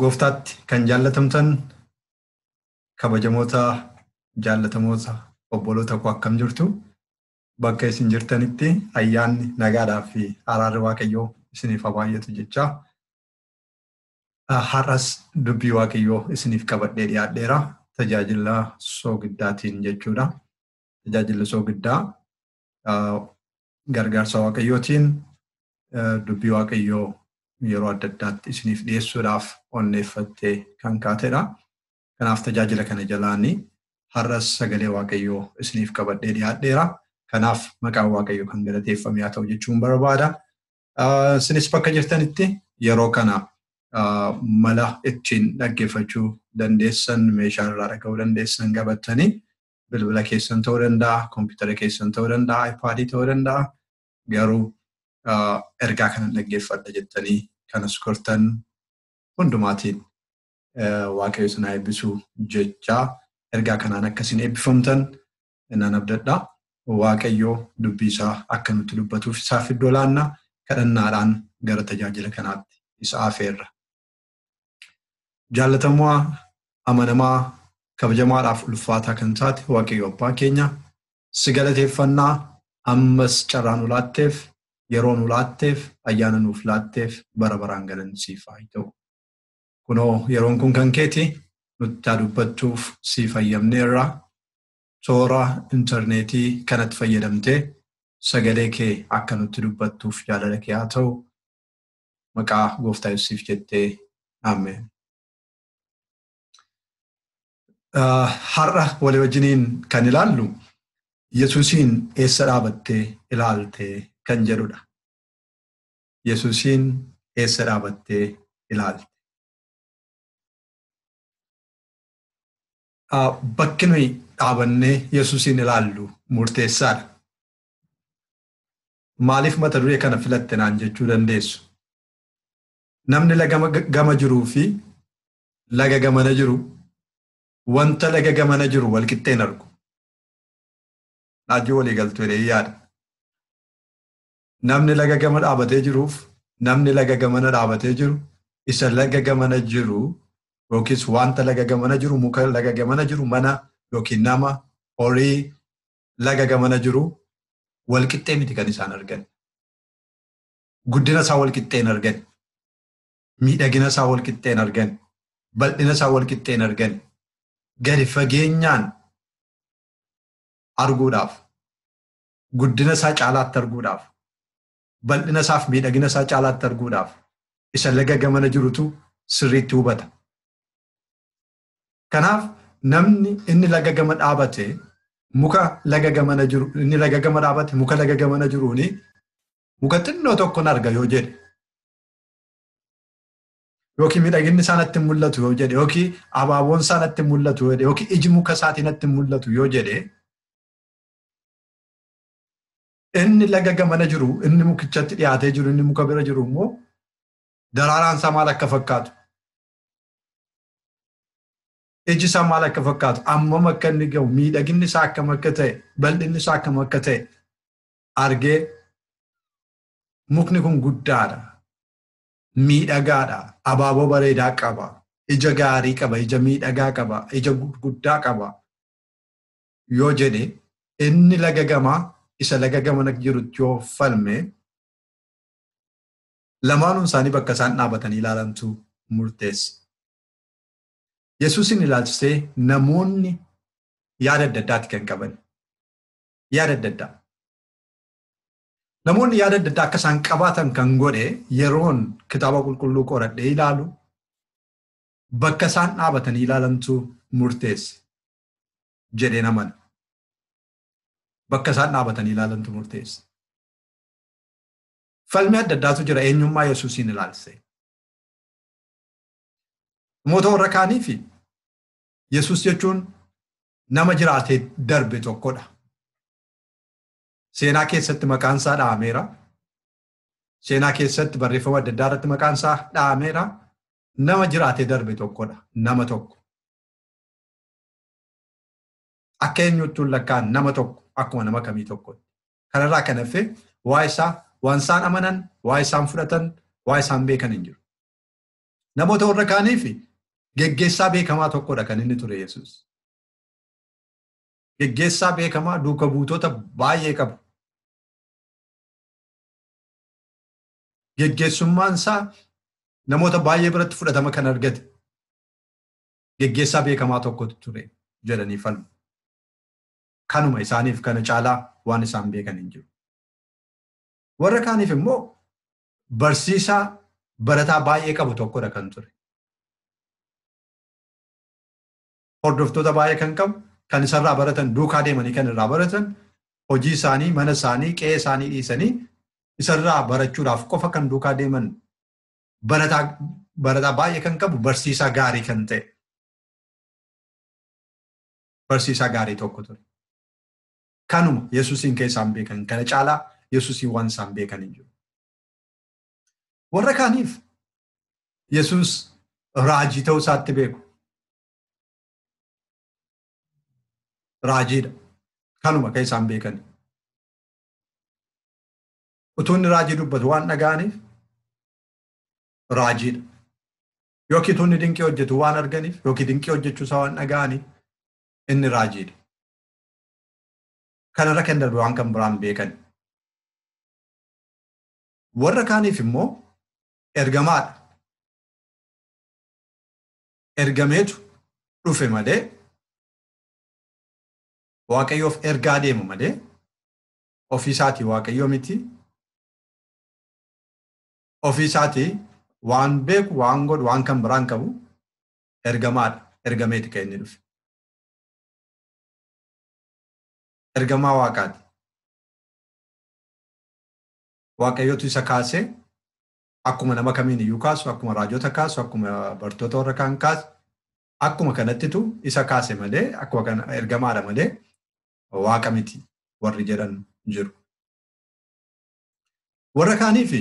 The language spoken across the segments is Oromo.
Gooftaatti kan jaallatamtan kabajamoota jaallatamoota obboloota koo akkam jirtu bakka isin jirtanitti ayyaanni nagaadhaa fi araarri waaqayyoo isiniif haa baay'atu jechaa har'as dubbii waaqayyoo isiniif qabadhee dhiyaadheera tajaajila soogiddaatiin jechuudha. Tajaajilli soogiddaa gargaarsa waaqayyootiin dubbii waaqayyoo yeroo adda addaatti isiniif dhiyeessuudhaaf onneeffattee kan kaatedha. Kanaaf tajaajila kana jalaanii har'as sagalee waaqayyoo isiniif qabadhee dhiyaadheera. Kanaaf maqaan waaqayyoo kan galateeffame haa ta'u jechuun barbaada. Isinis bakka jirtanitti yeroo kana mala ittiin dhaggeeffachuu dandeessan meeshaa irraa dhaga'uu dandeessan qabattanii bilbila keessan ta'uu danda'a, kompiitara keessan ta'uu danda'a, iPaadii ta'uu danda'a. Garuu ergaa kana dhaggeeffadha jettanii kan as gortan hundumaatiin waaqayyo isin haa eebbisu jechaa ergaa kanaan akka isin eebbifamtan nan abdadha. Waaqayyo dubbii isaa akka nutti dubbatuuf isaaf iddoo laanna kadhannaadhaan gara tajaajila kanaatti isa afeerra. Jaallatamaa amanamaa kabajamaadhaaf ulfaataa kan taate waaqayyo abbaa keenya si galateeffannaa ammas carraa nu laatteef yeroo nu laatteef ayyaana nuuf laatteef bara baraan galanni siif haa ta'u. Kunoo yeroon kun kan keeti nutti haa dubbattuuf siif hayyamneerra toora intarneetii kanatti fayyadamtee sagalee kee akka nutti dubbattuuf jaalala kee haa ta'u maqaa gooftaa Yesuusiif jettee ammeen. Har'a walii wajjiniin kan ilaallu Yesuusiin eessa dhaabattee ilaalte kan jedhudha. Yesuusiin eessa dhaabattee ilaalte. Bakki nuyi dhaabannee Yesuusiin ilaallu murteessaadha. Maaliif mata duree kana filatte naan jechuu dandeessu. Namni laga gama jiruu fi laga gamana jiru wanta laga gamana jiru walqixxee hin argu. Naajjoo walii galtu jedhee yaada. Namni laga gama dhaabatee jiruuf namni laga gamana dhaabatee jiru isa laga gamana jiru yookiis wanta laga gamana jiru muka laga gamana jiru mana yookiin nama horii laga gamana jiru walqixxee miti kan isaan argan. Guddina isaa walqixxee hin argan. Miidhagina isaa walqixxee hin argan. Bal'ina isaa walqixxee hin argan. Gadi fageenyaan arguudhaaf guddina isaa caalaatti arguudhaaf bal'ina isaaf miidhagina isaa caalaatti arguudhaaf isa laga gamana jirutu sirriitti hubata. Kanaaf namni inni laga gama dhaabate muka laga gamana jiru inni laga gama dhaabate muka laga gamana jiruuni muka xinnoo tokkon arga yoo jedhe yookiin miidhaginni isaa natti mul'atu yoo jedhe yookiin abaaboon isaa natti mul'atu yoo jedhe yookiin iji muka isaatii natti mul'atu yoo jedhe inni laga gamana jiru inni mukichatti dhiyaatee jiru inni muka bira jiru immoo daraaraan isaa maal akka fakkaatu iji isaa maal akka fakkaatu ammam akka inni gahu miidhaginni isaa akkam akka ta'e bal'inni isaa akkam akka ta'e argee mukni kun guddaadha miidhagaadha abaaboo bareedaa qaba ija gaarii qaba ija miidhagaa qaba ija guddaa qaba yoo jedhe inni laga gamaa isa laga gamana jirutti yoo falme Lamaanuu isaanii bakka isaan dhaabatanii ilaalantu murteessa. Yesuusin ilaalchisee namoonni yaada adda addaati kan qaban. Yaada adda addaa. Namoonni yaada adda addaa akka isaan qabaatan kan godhe yeroon kitaaba qulqulluu qoradhee ilaalu bakka isaan dhaabatanii ilaalantu murteesse jedheen amana. Bakka isaan dhaabatanii ilaalantu murteesse. Falmii adda addaatu jira eenyummaa Yesuusiin ilaalchisee. Namoota warra kaaniif Yesuus jechuun nama jiraatee darbe tokkodha. Seenaa keessatti maqaan isaa dha'ameera. Seenaa keessatti barreeffama adda addaa irratti maqaan isaa dha'ameera. Nama jiraatee darbe tokkodha. Nama tokko. Akka eenyuutti lakkaan nama tokko akkuma nama kamii tokkotti. Kanarraa kan hafe waa isaa waan isaan amanan, waa isaan fudhatan, waa isaan beekan hin jiru. Namoota warra kaaniif geggeessaa beekamaa tokkodha kan inni ture Yesuus. Geggeessaa beekamaa duuka buutota baay'ee qabu. Geggeessummaan isaa namoota baay'ee biratti fudhatama kan argate geggeessaa beekamaa tokkotu ture jedhanii falmu. kanuma isaaniif kana caalaa waan isaan beekan hin jiru. Warra kaaniif immoo barsiisaa barataa baay'ee qabu tokkodha kan ture. Hordoftoota baay'ee kan qabu kan isarraa baratan duukaa deemanii kan irraa baratan hojii isaanii mana isaanii qe'ee isaanii dhiisanii isarraa barachuudhaaf qofa kan duukaa deeman barataa baay'ee kan qabu barsiisaa gaarii kan ta'e. barsiisaa gaarii tokko ture. Kanuma Yesuusiin kan isaan beekan kana caalaa Yesuusiin waan isaan beekan hin jiru. Warra kaaniif Yesuus raajii ta'uu isaatti beeku. Raajiidha. Kanuma kan isaan beekan. Utuu inni raajii dubbatu waan dhaga'aniif raajiidha. Yookiin tuunni dinqii hojjetu waan arganiif yookiin dinqii hojjechuu isaa waan dhaga'aniif inni raajiidha. Kanarra kan darbe waan kan biraan beekan. Warra kaaniif immoo ergamaadha. Ergameetu dhufe malee waaqayyoof ergaa deema malee ofii isaatii waaqayyoo miti ofii isaati waan beeku waan godhu waan kan biraan qabu ergamaadha ergameeti kan inni dhufe ergamaa waaqaati waaqayyotu isa kaasee akkuma nama kamiin iyyuu kaasu akkuma raajota kaasu akkuma bartoota warra kaan kaasu akkuma kanattitu isa kaase malee akkuma kana ergamaadha malee waaqa miti warri jedhan jiru. Warra kaaniif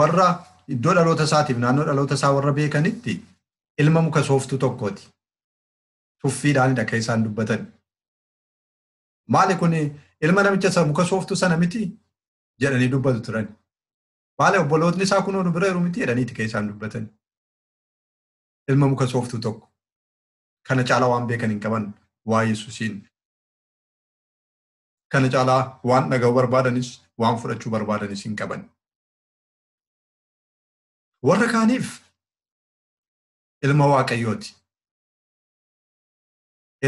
warra iddoo dhaloota isaatiif naannoo dhaloota isaa warra beekanitti ilma muka sooftuu tokkooti. Tuffiidhaanidha kan isaan dubbatan. Maali kun ilma namicha isa muka sooftuu sana miti jedhanii dubbatu turan. Maali obbolootni isaa kunoo nu bira jiru miti jedhaniiti kan isaan dubbatan. Ilma muka sooftuu tokko. Kana caalaa waan beekan hin qaban waa Yesuusiin. Kana caalaa waan dhaga'uu barbaadanis, waan fudhachuu barbaadanis hin qaban. Warra kaaniif ilma Waaqayyooti.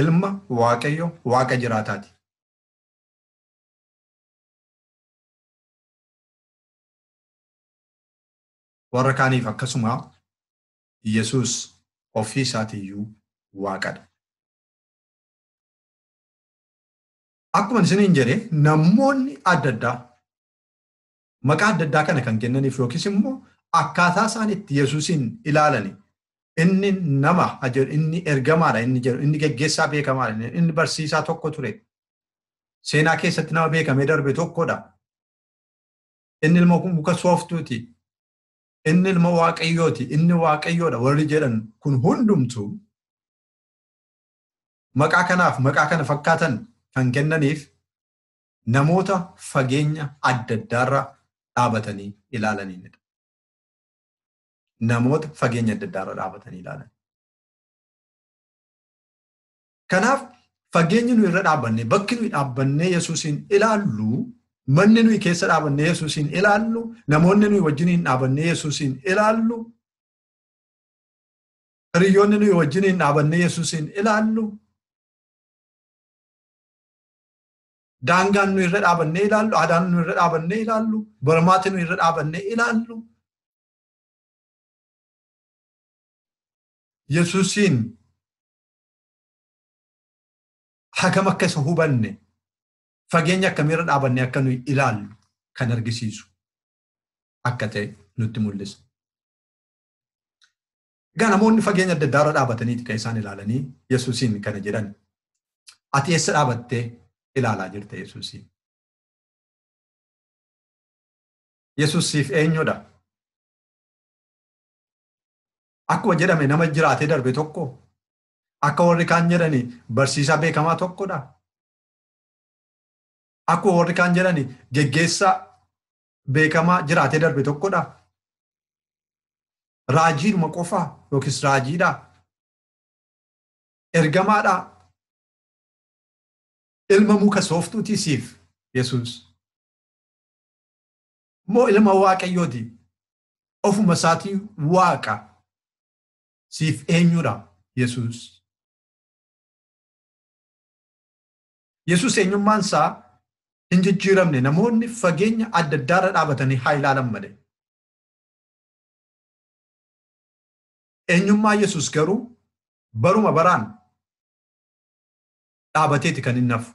Ilma Waaqayyo Waaqa jiraataati. Warra kaaniif akkasuma Yesuus ofii isaatiiyyuu Waaqadha. Akkuma isiniin jedhe namoonni adda addaa maqaa adda addaa kana kan kennaniif yookiis immoo akkaataa isaan itti Yesuusiin ilaalani inni nama jedhu inni ergamaadha inni jedhu inni geggeessaa beekamaadha inni barsiisaa tokko ture seenaa keessatti nama beekamee darbe tokkodha inni ilma muka sooftuuti inni ilma waaqayyooti inni waaqayyoodha warri jedhan kun hundumtu Maqaa kanaaf maqaa kana fakkaatan kan kennaniif namoota fageenya adda addaarra dhaabatanii ilaalaniinidha. Namoota fageenya adda addaarra dhaabatanii ilaalan. Kanaaf fageenyi nuyi irra dhaabannee bakki nuyi dhaabannee Yesuusiin ilaallu manni nuyi keessa dhaabannee Yesuusiin ilaallu namoonni nuyi wajjiniin dhaabannee Yesuusiin ilaallu Hiriyoonni nuyi wajjiniin dhaabannee Yesuusiin ilaallu daangaan nuyi irra dhaabannee ilaallu, aadaan nuyi irra dhaabannee ilaallu, barmaati nuyi irra dhaabannee ilaallu Yesuusiin hagam akka isa hubanne fageenya akkamiirra dhaabannee akka nuyi ilaallu kan argisiisu akka ta'e nutti mul'isa. Egaa namoonni fageenya adda addaa irra dhaabataniiti kan isaan ilaalanii Yesuusiin kana jedhan. Ati eessa dhaabattee ilaalaa jirta Yesuusiin? Yesuus siif eenyudha? Akkuma jedhame nama jiraatee darbe tokko akka warri kaan jedhani barsiisaa beekamaa tokkodha. Akkuma warri kaan jedhani geggeessaa beekamaa jiraatee darbe tokkodha. Raajiidhuma qofaa yookiis raajiidha. Ergamaadha. Ilma muka sooftuutii siif Yesuus. Moo ilma waaqayyooti. Ofuma isaatii waaqa. Siif eenyudha Yesuus. Yesuus eenyummaan isaa hin jijjiiramne namoonni fageenya adda addaarra dhaabatanii haa ilaalan malee. Eenyummaa Yesuus garuu baruma baraan dhaabateeti kan inni hafu.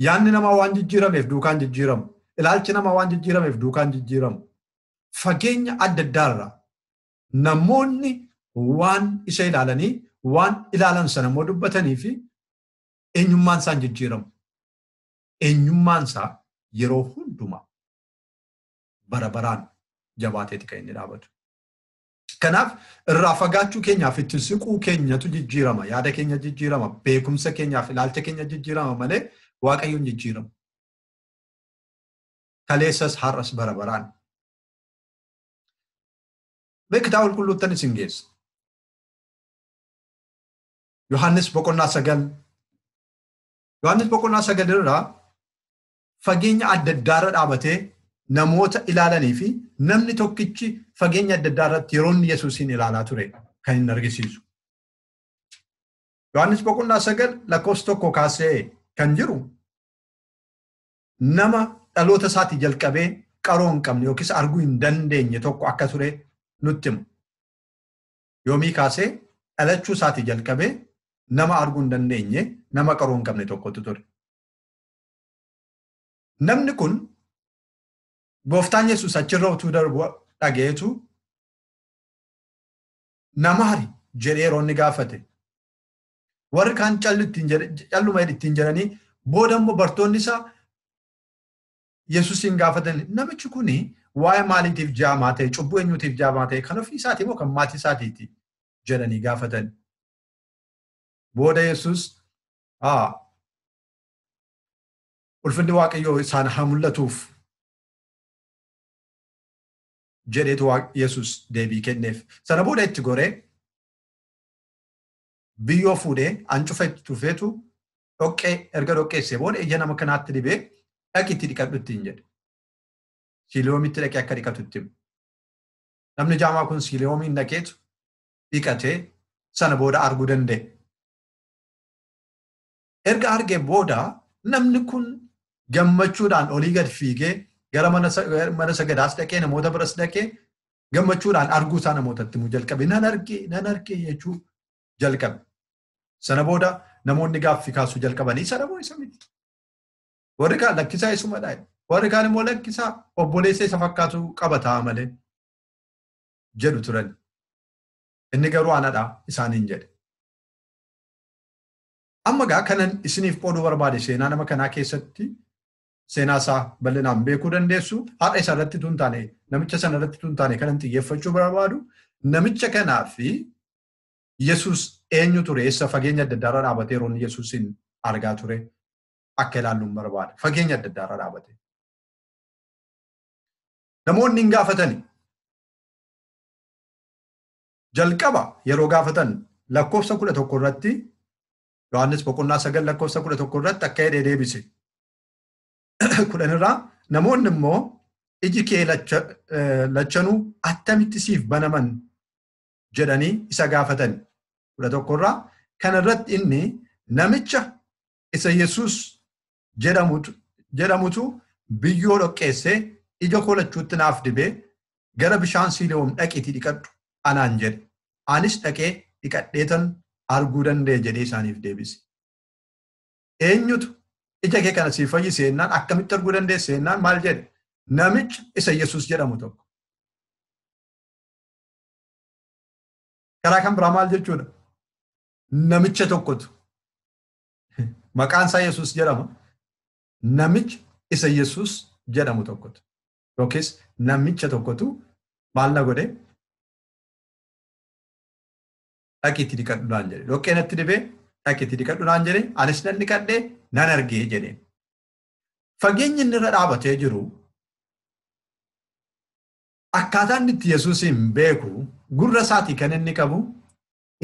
Yaanni namaa waan jijjiirameef duukaan jijjiiramu. Ilaalchi namaa waan jijjiirameef duukaan jijjiiramu. Fageenya adda addaarra namoonni waan isa ilaalanii waan ilaalan sana immoo dubbatanii fi Eenyummaan isaa hin jijjiiramu. Eenyummaan isaa yeroo hundumaa bara baraan jabaateeti kan inni dhaabatu. Kanaaf irraa fagaachuu keenyaaf itti siquu keenyatu jijjiirama, yaada keenya jijjiirama, beekumsa keenyaaf ilaalcha keenya jijjiirama malee waaqayyoon jijjiiramu. Kaleessas har'as bara baraan. Mee kitaaba qulqulluuttan isin geessa. Yohaannis boqonnaa sagal Yohaannis boqonnaa sagal irraa fageenya adda addaa irra dhaabatee namoota ilaalanii fi namni tokkichi fageenya adda addaa irratti yeroo inni Yesuusiin ilaalaa ture kan inni argisiisu. Yohaannis boqonnaa sagal lakkoofsa tokko kaasee kan jiru nama dhaloota isaatii jalqabee qaroo hin qabne yookiis arguu hin dandeenye tokko akka ture nutti hima. yoomii kaasee dhalachuu isaatii jalqabee nama arguu hin dandeenye nama qaruu hin qabne tokkotu ture. Namni kun gooftaan Yesuus achirra utuu darbu dhaga'eetu nama hari jedhee yeroo inni gaafate. Warri kaan calluma ittiin jedhanii booda immoo bartoonni isaa Yesusiin gaafatanii namichi kun waa'ee maaliitiif jaamaa ta'e cubbuu eenyuutiif jaamaa ta'e kan ofii isaatii moo kan maatii isaatiiti jedhanii gaafatan. Booda Yesus ulfinni waaqayyoo isaan haa mul'atuuf jedheetu Yesus deebii kenneef. Sana booda itti goree biyyoo fuudhee ancufa itti tufeetu dhoqqee erga dhoqqeessee booda ija nama kanaatti dibee dhaqi itti dhiqadhu ittiin jedhe. Siiliyoomitti dhaqee akka dhiqatu itti hime. Namni jaamaa kun siiliyoomiin dhaqeetu dhiqatee sana booda arguu danda'e. Erga argee booda namni kun gammachuudhaan olii gad fiigee gara mana sagadaas dhaqee namoota biras dhaqee gammachuudhaan arguu isaa namootatti himuu jalqabe. Nan arge nan arge jechuu jalqabe. Sana booda namoonni gaaffii kaasuu jalqabanii isa dhamoo isa miti. Warri kaan lakkisaa isumadha. Warri kaan immoo lakkisaa obboleessa isa fakkaatu qaba ta'a malee jedhu turan. Inni garuu anadha isaaniin jedhe. Amma gaa kanan isiniif qooduu barbaade seenaa nama kanaa keessatti seenaa isaa bal'inaan beekuu dandeessu haadha isaa irratti tun taane namicha sana irratti tun taane kanan xiyyeeffachuu barbaadu namicha kanaa fi Yesuus eenyu ture? Eessa fageenya adda addaarra dhaabatee yeroo inni Yesuusiin argaa ture akka ilaallu hin barbaada. Fageenya adda addaarra dhaabate. Namoonni hin gaafatani. Jalqaba yeroo gaafatan lakkoofsa kudha tokko irratti Yohaannis boqonnaa sagal lakkoofsa kudha tokko irratti akka jedhee deebise. Kudhan irraa namoonni immoo iji kee lachanuu attamitti siif banaman jedhanii isa gaafatan. kudha tokkorraa kana irratti inni namicha isa Yesuus jedhamutu biyyoo dhoqqeessee ija koo lachuutti naaf dibee gara bishaan siiliyoom dhaqiitii dhiqadhu anaan jedhe. Anis dhaqee dhiqadheetan arguu danda'e jedhee isaaniif deebise. Eenyutu ija kee kana siif fayyise jennaan akkamitti arguu dandeesse jennaan maal jedhe? Namicha isa Yesuus jedhamu tokko. Karaa kan biraa maal jechuudha? Namicha tokkotu maqaan isaa Yesuus jedhama. Namicha isa Yesuus jedhamu tokkotu yookiis namicha tokkotu maal na godhe dhaqiitti dhiqadhu naan jedhe. Dhoqqee natti dibee dhaqiitti dhiqadhu naan jedhe anis nan dhiqadhee nan argee jedhe. Fageenyi inni irra dhaabatee jiru Akkaataa inni itti Yesuusiin beeku gurra isaatii kan inni qabu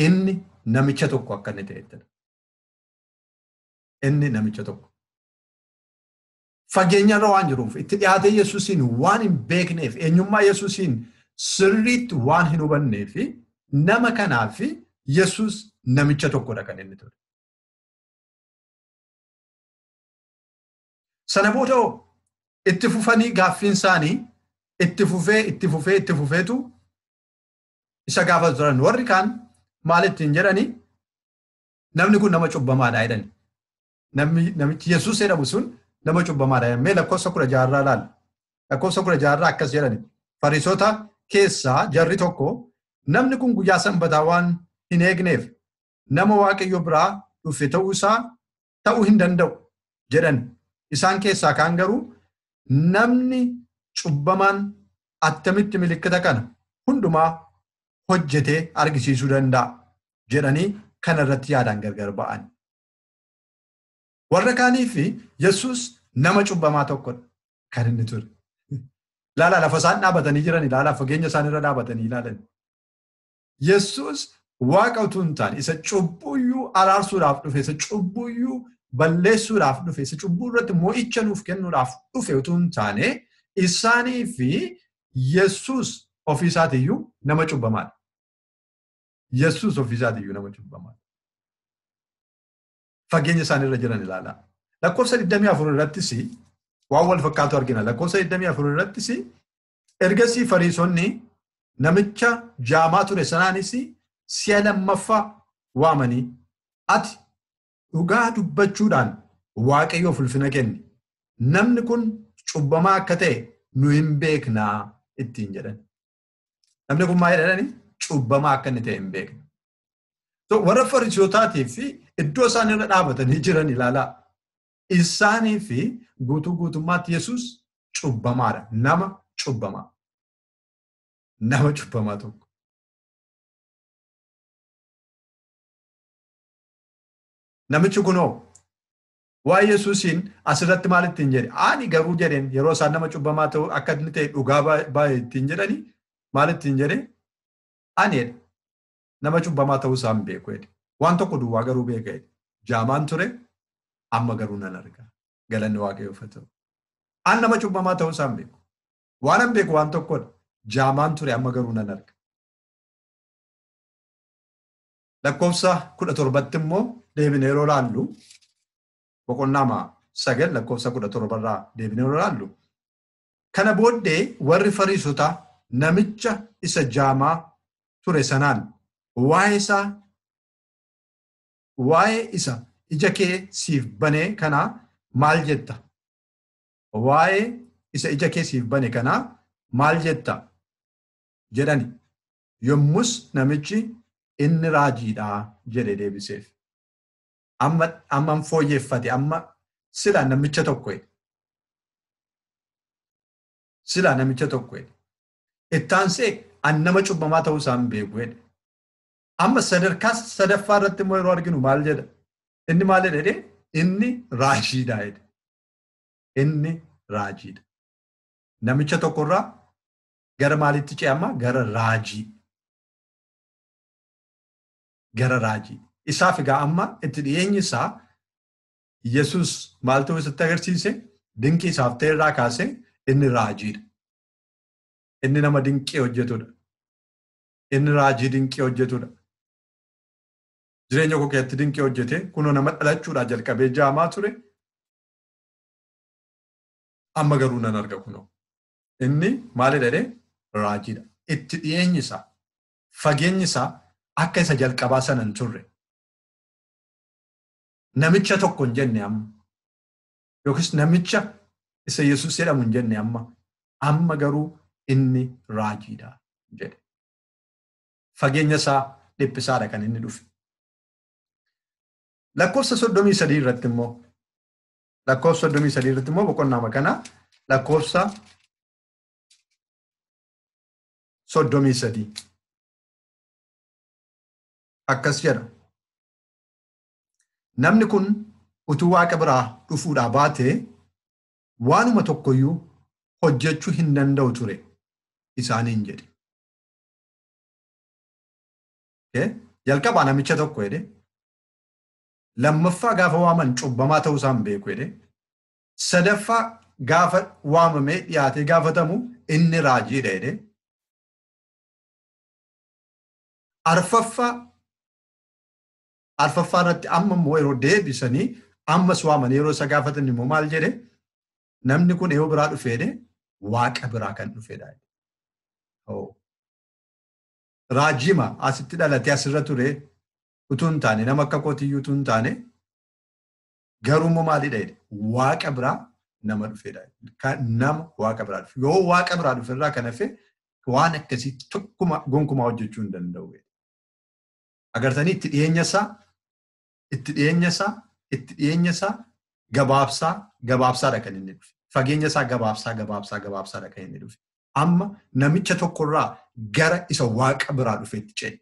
inni namicha tokko akka inni ta'ettidha. Inni namicha tokko. Fageenyarra waan jiruuf itti dhiyaatee Yesuusiin waan hin beekneef eenyummaa Yesuusiin sirriitti waan hin hubanneef nama kanaaf Yesuus namicha tokkodha kan inni ture. Sana booda hoo itti fufanii gaaffiin isaanii itti fufee itti fufee itti fufeetu isa gaafatu turan. Warri kaan maal ittiin jedhanii namni kun nama cubbamaadha jedhani. Namni namichi Yesuus jedhamu sun nama cubbamaadha jedhani. Mee lakkoofsa kudha jaarraa ilaalla. Lakkoofsa kudha jaarraa akkas jedhani. Fariisota keessaa jarri tokko namni kun guyyaa sanbataa waan hin eegneef nama waaqayyo biraa dhufe ta'uu isaa ta'uu hin danda'u jedhan. Isaan keessaa kaan garuu namni cubbamaan attamitti milikkita kana hundumaa hojjetee argisiisuu danda'a jedhanii kana irratti yaadaan gargar ba'an. Warra kaaniif Yesuus nama cubbamaa tokkodha kan inni ture. Ilaala lafa isaan dhaabatanii jiran ilaala fageenya isaan irra dhaabatanii ilaalan. Yesuus waaqa utuu hin taane isa cubbuuyyuu araarsuudhaaf dhufe isa cubbuuyyuu balleessuudhaaf dhufe isa cubbuu irratti mo'icha nuuf kennuudhaaf dhufe utuu hin taane isaanii fi Yesuus ofii isaatiiyyuu nama cubbamaadha. Yesuus ofii isaatiiyyuu nama cubbamaadha. Fageenya isaanii irra jiran ilaalaa. Lakkoofsa 24 irrattis waan wal fakkaatu argina. Lakkoofsa 24 irrattis Ergasii fariisonni namicha jaamaa ture sanaanis si'a lammaffaa waamanii ati dhugaa dubbachuudhaan waaqayyoof ulfina kenni namni kun cubbamaa akka ta'e nu hin beeknaa ittiin jedhan. Namni kun maal jedhani cubbamaa akka inni ta'e hin beekne. Warra fariisotaatiif fi iddoo isaan irra dhaabatanii jiran ilaalaa. Isaanii fi guutuu guutummaatti Yesuus cubbamaadha. Nama cubbamaa. Nama cubbamaa tokko. Namichi kunoo waa'ee Yesuusiin asirratti maal ittiin jedhe? Ani garuu jedheen yeroo isaan nama cubbamaa ta'u akka inni ta'e dhugaa baay'ee ittiin jedhani maal ittiin jedhe? Ani jedhe Nama cubbamaa ta'uu isaa hin beeku jedhe. Waan tokko duwwaa garuu beeka jedhe. Jaamaan ture, amma garuu nan arga. Galanni Waaqayyoof haa ta'u. An nama cubbamaa ta'uu isaa hin beeku. Waan an beeku waan tokkodha. Jaamaan ture, amma garuu nan arga. Lakkoofsa kudha torbatti immoo deebinee yeroo laallu boqonnaama sagal lakkoofsa kudha torbarraa deebinee yeroo laallu Kana booddee warri Fariisotaa namicha isa jaamaa ture sanaan waa'ee isaa waa'ee isa ija kee siif banee kanaa maal jetta? Waa'ee isa ija kee siif bane kanaa maal jetta? jedhani. Yommus namichi inni raajiidha jedhe deebiseef. amma amman fooyyeffate amma sila namicha tokko jedhe. Sila namicha tokko jedhe. Ittaansee an nama cubbamaa ta'uu isaa hin beeku jedhe. Amma sadarkaa sadaffaa irratti immoo yeroo arginu maal jedha? Inni maal jedha jedhee? Inni raajiidha jedhe. Inni raajiidha. Namicha tokkorraa gara maaliitti ce'ama? Gara raajii. gara raajii. Isaaf egaa amma itti dhiyeenyi isaa Yesuus maal ta'uu isatti agarsiise dinqii isaaf ta'e irraa kaasee inni raajiidha. Inni nama dinqii hojjetudha. Inni raajii dinqii hojjetudha. Jireenya koo keessatti dinqii hojjete kunoo nama dhalachuudhaa jalqabee jaamaa ture. Amma garuu nan arga kunoo. Inni maalidha jedhee raajiidha. Itti dhiyeenyi isaa fageenyi isaa akka isa jalqabaa sana hin turre. Namicha tokko hin jenne amma. Yookiis namicha isa Yesuus jedhamu hin jenne amma. Amma garuu inni raajiidha jedhe. Fageenya isaa dhiphisaadha kan inni dhufe. Lakkoofsa soddomii sadii irratti immoo lakkoofsa soddomii sadii irratti immoo boqonnaama kana lakkoofsa soddomii sadii akkas jedha namni kun utuu waaqa biraa dhufuudhaa baatee waanuma tokkoyyuu hojjechuu hin danda'u ture isaaniin jedhe. Jalqabaa namicha tokko jedhe lammaffaa gaafa waaman cubbamaa ta'uu isaan beeku jedhe Sadaffaa gaafa waamamee dhiyaatee gaafatamu inni raajiidha jedhee. Arfaffaa arfaffaa irratti amma immoo yeroo deebisanii ammas waamanii yeroo isa gaafatan immoo maal jedhe namni kun eeyoo biraa dhufeedhe waaqa biraa kan dhufeedha. Raajima asitti dhalatee asirra ture utuu hin taane nama akka kootiyyuu utuu hin taane Garuu immoo maalidha jedhe waaqa biraa nama dhufedha. Kan nama waaqa biraa dhufe. Yoo waaqa biraa dhufe irraa kan hafe waan akkasii tokkuma gonkumaa hojjechuu hin danda'u. Agartanii itti dhiyeenya isaa itti dhiyeenya isaa itti dhiyeenya isaa gabaabsaa gabaabsaadha kan inni dhufe. Fageenya isaa gabaabsaa gabaabsaa gabaabsaadha kan inni dhufe. Amma namicha tokkorraa gara isa waaqa biraa dhufeetti ce'e.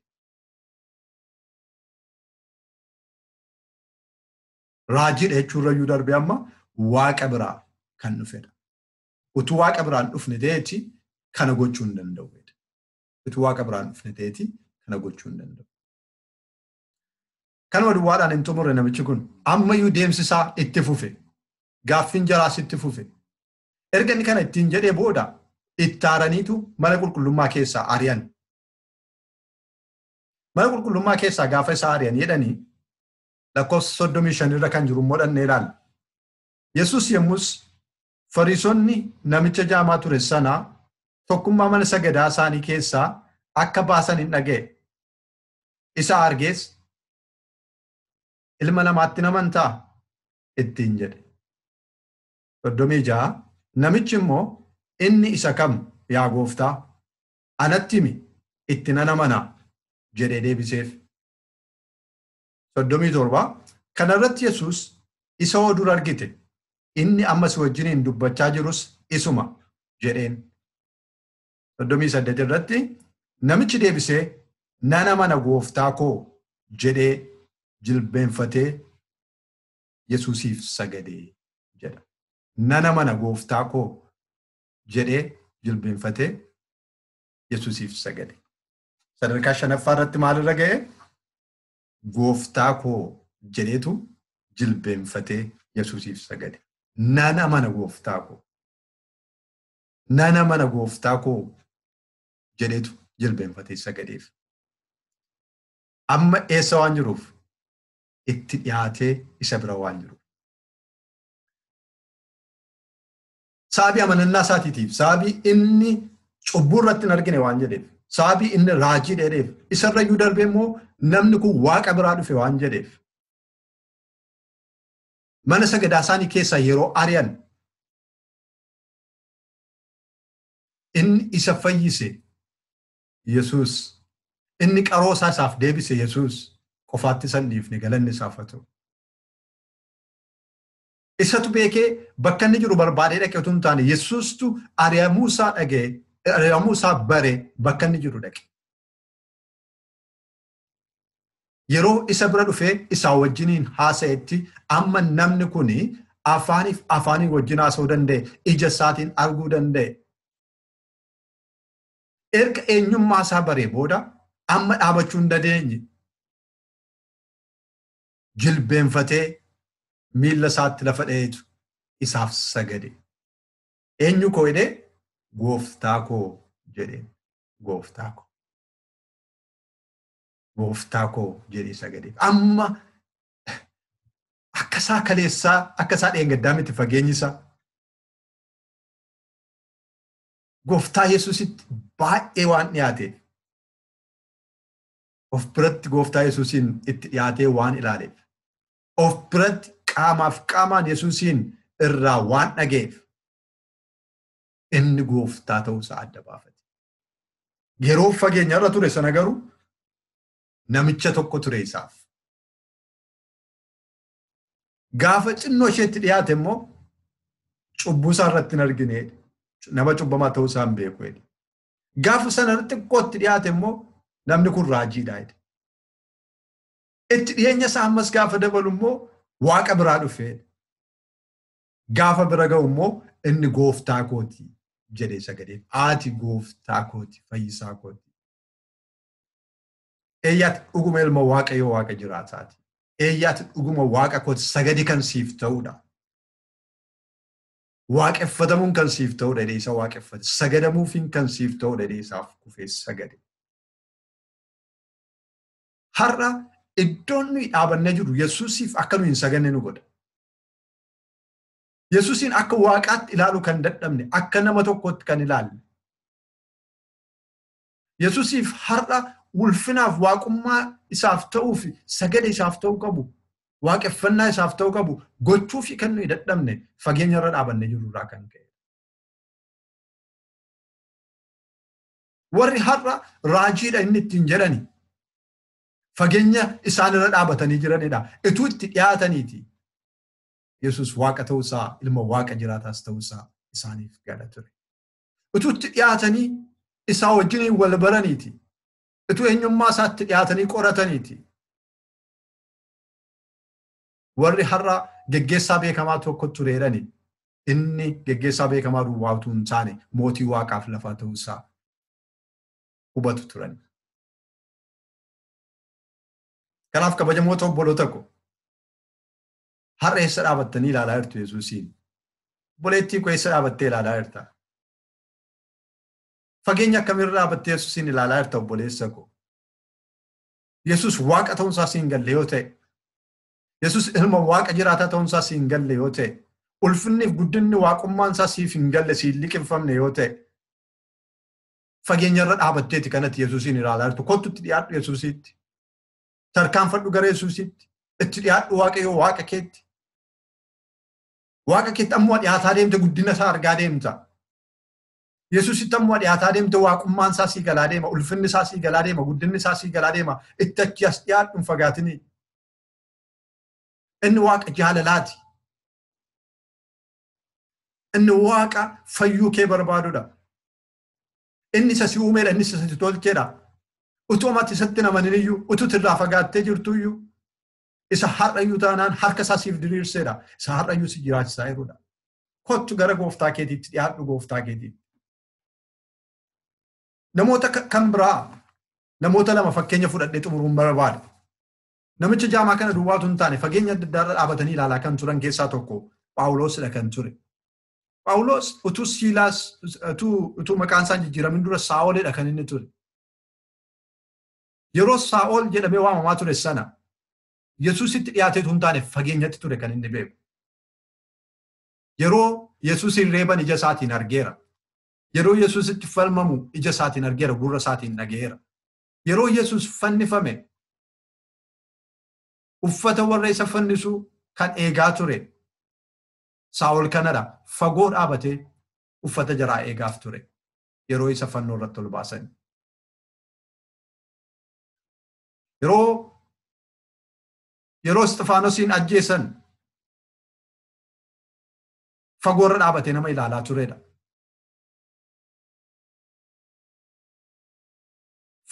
Raajiidha jechuurra iyyuu darbee amma waaqa biraa kan dhufedha. Utuu waaqa biraan dhufne ta'eeti kana gochuu hin danda'u. Utuu waaqa biraan dhufne ta'eeti kana gochuu hin danda'u. Kanuma duwwaadhaan hin xumurre namichi kun ammayyuu deemsisaa itti fufe. Gaaffiin jaraas itti fufe. Erga inni kana ittiin jedhee booda itti aaraniitu mana qulqullummaa keessaa ari'an. Mana qulqullummaa keessaa gaafa isaa ari'an jedhanii lakkoofsa soddomii shan irra kan jiru immoo dhannee ilaalla. Yesus yommus Fariisonni namicha jaamaa ture sana tokkummaa mana sagadaa isaanii keessaa akka baasan hin dhaga'e. Isa argees ilma namaatti namantaa ittiin jedhe. Soddomii ja'a namichi immoo inni isa kam yaa gooftaa anatti himi itti nan amanaa jedhee deebiseef. 37 Kana irratti Yesuus, Isa oo dur argite, inni amma si wajjiniin dubbachaa jirus isuma jedheen. 38 irratti namichi deebisee, Nan amana gooftaa koo jedhee jilbeenfatee Yesuusiif sagade jedha. Nan amana gooftaa koo jedhee jilbeenfatee Yesuusiif sagade. Sadarkaa shanaffaa irratti maalirra ga'e? Gooftaa koo jedheetu jilbeenfatee Yesuusiif sagade. Nan amana gooftaa koo. Nan amana gooftaa koo jedheetu jilbeenfatee sagadeef. Amma eessa waan jiruuf itti dhiyaatee isa bira waan jiruuf. Sababii amanannaa isaatiitiif, sababii inni cubbuu irratti hin argine waan jedheef, sababii inni raajii dheereef, isarra iyyuu darbee immoo namni kun waaqa biraa dhufe waan jedheef. Mana sagadaa isaanii keessaa yeroo ari'an inni isa fayyise Yesuus, inni qaroo isaa isaaf deebise Yesuus qofaatti isa hin dhiifne galanni isaaf haa ta'u. Isatu beekee bakka inni jiru barbaadee dhaqe utuu hin taane Yesuustu ari'amuu isaa dhaga'e, ari'amuu isaa bare bakka inni jiru dhaqe. Yeroo isa bira dhufee isaa wajjiniin haasa'etti amma namni kun afaaniif afaanii wajjin haasa'uu danda'e, ija isaatiin arguu danda'e. Erga eenyummaa isaa baree booda amma dhaabachuu hin dandeenye. jilbeenfatee miilla isaatti lafa dha'eetu isaaf sagade. Eenyu koo jedhee gooftaa koo jedheen gooftaa koo. Gooftaa koo jedhee sagade. Amma akka isaa kaleessaa akka isaa dheengaddaa miti fageenyi isaa. Gooftaa Yesuusitti baay'ee waan dhiyaateef. of biratti gooftaa Yesuusiin itti dhiyaatee waan ilaaleef, of biratti qaamaaf qaamaan Yesuusiin irraa waan dhaga'eef inni gooftaa ta'uu isaa adda baafate. Yeroo fageenya irra ture sana garuu namicha tokko ture isaaf. Gaafa xinnoo isheetti dhiyaate immoo cubbuu isaa irratti hin argine nama cubbamaa ta'uu isaa hin beeku jedhe. Gaafa sana xiqqoo itti dhiyaate immoo namni kun raajiidha jedhe. Itti dhiyeenya isaa ammas gaafa dabalu immoo waaqa biraa dhufee gaafa bira ga'u immoo inni gooftaa kooti jedhee sagadeef ati gooftaa kooti fayyisaa kooti. Eeyyaati dhuguma ilma waaqayyo waaqa jiraataati. Eeyyaati dhuguma waaqa kooti sagadi kan siif ta'udha. Waaqeffatamuun kan siif ta'udha jedhee isa waaqeffate. Sagadamuufiin kan siif ta'udha jedhee isaaf kufee sagade. Har'a iddoon nuyi dhaabannee jirru Yesuusiif akka nuyi hin saganne nu godha. Yesuusiin akka waaqaatti ilaaluu kan dadhabne, akka nama tokkootti kan ilaalle. Yesusiif har'a ulfinaaf waaqummaa isaaf ta'uu fi sagada isaaf ta'uu qabu waaqeffannaa isaaf ta'uu qabu gochuu fi kan nuyi dadhabne fageenya irra dhaabannee jiru irraa kan ka'e. Warri har'a raajiidha inni ittiin jedhani fageenya isaan irra dhaabatanii jiranidha. Ituu itti dhiyaataniiti. Yesus waaqa ta'uusaa ilma waaqa jiraataas ta'uusaa isaaniif gala ture. utuu itti dhiyaatanii isaa wajjiniin wal baraniiti utuu eenyummaa isaatti dhiyaatanii qorataniiti warri har'a geggeessaa beekamaa tokko tureerani inni geggeessaa beekamaa duwwaa utuu hin taane mootii waaqaaf lafaa ta'uu isaa hubatu turan. Kanaaf kabajamoota obboloota koo Har'a eessa dhaabattanii ilaalaa jirtu Yesuusiin? Obboleettii koo eessa dhaabattee ilaalaa jirta? Fageenya akkamiirra dhaabattee Yesuusiin ilaalaa jirta obboleessa koo? Yesuus waaqa ta'uunsaa siin galle yoo ta'e, Yesuus ilma waaqa jiraataa ta'uunsaa siin galle yoo ta'e, ulfinniif guddinni waaqummaansaa siif hin galle siin liqimfamne yoo ta'e, fageenyarra dhaabatteeti kanatti Yesuusiin ilaalaa jirtu. Kottutti dhiyaadhu Yesuusiitti. tarkaanfadhu gara Yesuusitti itti dhiyaadhu waaqayyoo waaqa keetti. Waaqa keetti ammoo dhiyaataa deemte guddina isaa argaa deemta. Yesuusitti ammoo dhiyaataa deemte waaqummaan isaa sii galaa deema, ulfinni isaa sii galaa deema, guddinni isaa sii galaa deema. Itti achi as dhiyaadhu hin fagaatinii. Inni waaqa jaalalaati. Inni waaqa fayyuu kee barbaadudha. Inni isa si uumeedha, inni isa si tolcheedha. Utuu mati isatti namanin iyyuu, utuu irraa fagaattee jirtu iyyuu, isa har'ayyuu taanaan harka isaa siif diriirseedha. Isa har'ayyuu si jiraachisaa jirudha. Kottu gara gooftaa keetiitti dhiyaadhu gooftaa keetiitti. Namoota kan biraa namoota lama fakkeenya fudhadhee xumuruun barbaada. Namicha jaamaa kana duwwaatu hin taane fageenya adda addaarra dhaabatanii ilaalaa kan turan keessaa tokko Phaawuloosidha kan ture. Phaawulos utuu Siilaas utuu maqaan isaan jijjiiramin dura Saa'oledha kan inni ture. Yeroo Saa'ol jedhamee waamamaa ture sana Yesuusitti dhiyaateetu hin taane fageenyatti ture kan inni beeku. Yeroo Yesuusiin reeban ija isaatiin argeera. Yeroo Yesuusitti falmamu ija isaatiin argeera, gurra isaatiin dhaga'eera. Yeroo Yesuus fannifame uffata warra isa fannisuu kan eegaa ture Saa'ol kanadha fagoo dhaabatee uffata jaraa eegaaf ture yeroo isa fannoo irratti ol baasan. Yeroo yeroo Isxifaanosiin ajjeesan fagoo irra dhaabatee nama ilaalaa turedha.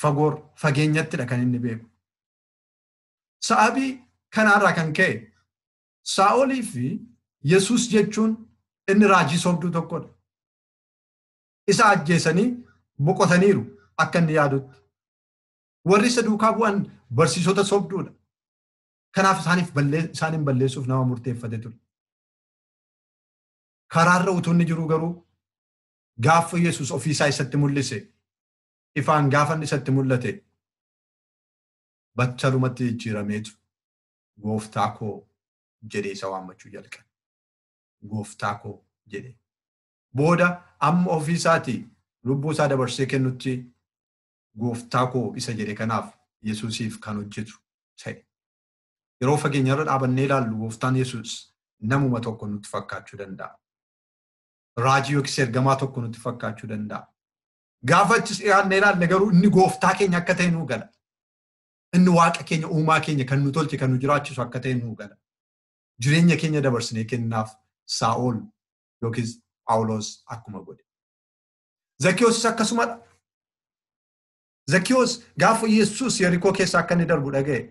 Fagoo fageenyattidha kan inni beeku. Sa'aabii kanaarraa kan ka'e Saa'olii fi Yesuus jechuun inni raajii sobduu tokkodha. Isa ajjeesanii boqotaniiru akka inni yaadutti. Warri isa duukaa bu'an barsiisota sobduudha. Kanaaf isaaniif isaaniin balleessuuf nama murteeffate ture. Karaarra utuu inni jiru garuu gaafa Yesuus ofiisaa isatti mul'ise ifaan gaafa inni isatti mul'ate battalumatti jijjiirameetu Gooftaa koo jedhee isa waammachuu jalqabe. Gooftaa koo jedhee. Booda amma ofii isaati lubbuu isaa dabarsee kennutti gooftaa koo isa jedhe kanaaf Yesuusiif kan hojjetu ta'e. Yeroo fageenyarra dhaabannee ilaallu gooftaan Yesuus namuma tokko nutti fakkaachuu danda'a. Raajii yookiis ergamaa tokko nutti fakkaachuu danda'a. Gaafa achis dhiyaannee ilaalle garuu inni gooftaa keenya akka ta'e nuu gala. Inni waaqa keenya uumaa keenya kan nu tolche kan nu jiraachisu akka ta'e nuu gala. Jireenya keenya dabarsinee kennaaf Saa'ol yookiis Phaawulos akkuma godhe. Zakiyoosis akkasumadha. Zakiyoos gaafa Yesuus Yerikoo keessa akka inni darbu dhaga'e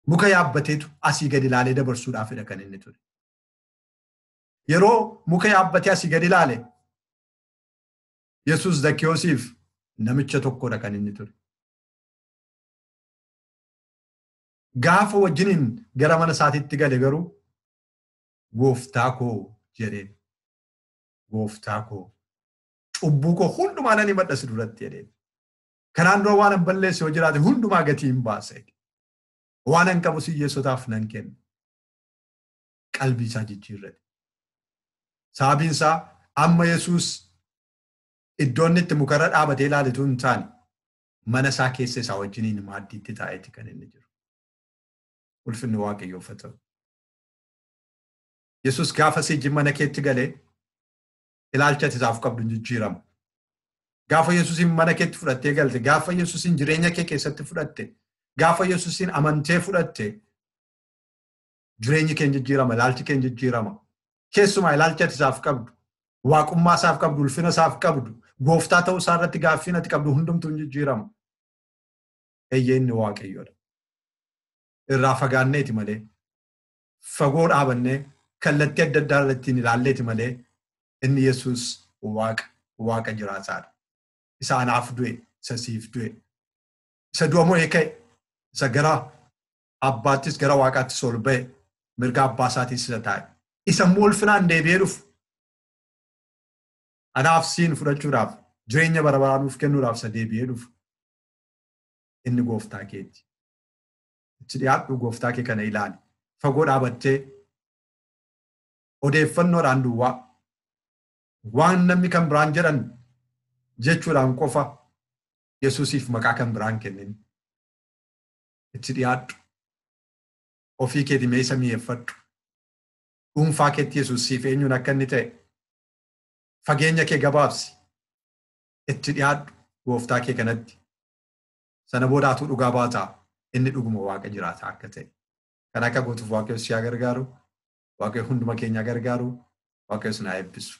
muka yaabbateetu asii gadi ilaalee dabarsuudhaafidha kan inni ture. Yeroo muka yaabbatee asii gadi ilaale Yesuus Zakiyoosiif namicha tokkodha kan inni ture. Gaafa wajjiniin gara mana isaatiitti gale garuu gooftaa koo jedheen. Gooftaa koo cubbuu koo hundumaa nan himadha si duratti jedheen. Kanaan dura waan an balleesse yoo jiraate hundumaa gatii hin baasa. Waan an qabu siyyeessotaaf nan kenna. Qalbii isaa jijjiirrate. Sababiin isaa amma Yesuus iddoo inni itti mukarra dhaabatee ilaaletu hin taane mana isaa keessa isaa wajjiniin maaddiitti taa'eeti kan inni jiru. Ulfinni waaqayyoof haa ta'u. Yesus gaafa si ijji mana keetti galee ilaalcha ati isaaf qabdu hin jijjiiramu. Gaafa Yesusiin mana keetti fudhattee galte, gaafa Yesusiin jireenya kee keessatti fudhatte, gaafa Yesusiin amantee fudhatte, jireenyi keen jijjiirama, ilaalchi keen jijjiirama. Keessumaa ilaalchi ati isaaf qabdu, waaqummaa isaaf qabdu, ulfina isaaf qabdu, gooftaa ta'uu isaa irratti gaaffiin ati qabdu hundumtuu hin jijjiiramu. Eeyyee inni waaqayyoodha. Irraa fagaanneeti malee, fagoo dhaabannee kallattii adda addaa irratti hin ilaalleeti malee inni Yesuus waaqa, waaqa jiraataadha. Isa anaaf du'e, isa siif du'e, isa du'a mo'ee ka'e, isa gara abbaattis gara waaqaattis ol ba'e mirga abbaa isaatiin sisa taa'e isa immoo ulfinaan deebi'ee dhufu anaaf siin fudhachuudhaaf jireenya bara baraa nuuf kennuudhaaf isa deebi'ee dhufu inni gooftaa keeti. Itti dhiyaadhu gooftaa kee kana ilaali. Fagoo dhaabattee odeeffannoodhaan duwwaa waan namni kan biraan jedhan jechuudhaan qofa Yesuusiif maqaa kan biraan kennin. itti dhiyaadhu. Ofii keeti mee isa mi'eeffadhu. Dhuunfaa keetti Yesuus siif eenyuun akka inni ta'e fageenya kee gabaabsi. Itti dhiyaadhu gooftaa kee kanatti. Sana booda atuu dhugaa baata inni dhuguma waaqa jiraataa akka ta'e. Kan akka gootuuf waaqayyo si haa gargaaru. Waaqayyo hunduma keenya gargaaru. Waaqayyo isin haa eebbisu.